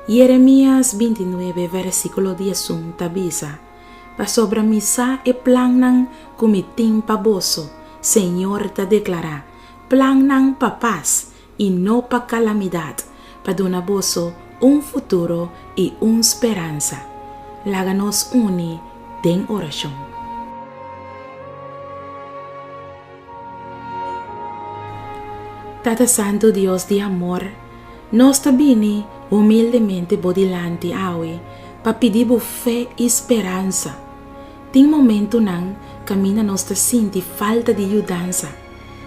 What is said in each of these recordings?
Jeremias binti nuebe vèrsikulo dies un ta bisa, Pasobra mi sa e plannan ku mi tin pa boso, señor ta deklará, plannan pa pas i no pa kalamidat, pa duna boso un futuro i un speransa. Laga nos uni den orashon. Tata Santu, Dios di amor, nos ta bini humildemente bo dilanti awe pa pidi bo fe i speransa. Tin momentunan kaminda nos ta sinti falta di yudansa.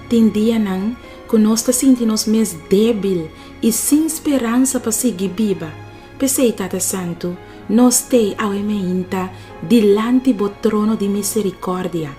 Tin dianan ku nos ta sinti nos mes débil i sin speransa pa sigui biba. P'esei, Tata Santu, no stei awe me hinta dilanti bo trono di miserikòrdia.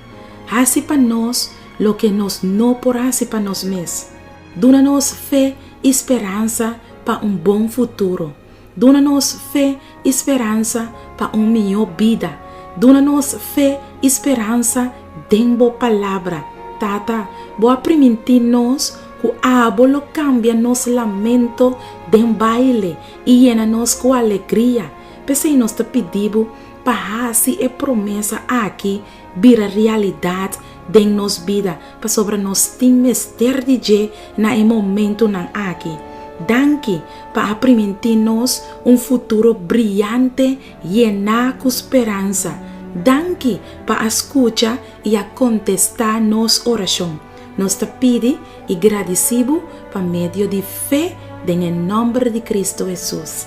Hasi pa nos loke nos no por hasi pa nos mes. Duna nos fe i speransa pa un bon futuro. Duna nos fe i speransa pa un mihó bida. Duna nos fe i speransa den bo Palabra. Tata, bo a primintí nos ku abo lo kambia nos lamento den baile i yena nos ku alegria. P'esei nos ta pidí bo pa hasi e promesa aki bira realidad den nos bida pasobra nos tin mester di dje na e momentunan aki. Danki pa a primintí nos un futuro briante yená ku speransa. Danki pa a skucha i a kontestá nos orashon. Nos ta pidi i gradisí Bo pa medio di fe den e nòmber di Kristu Hesus.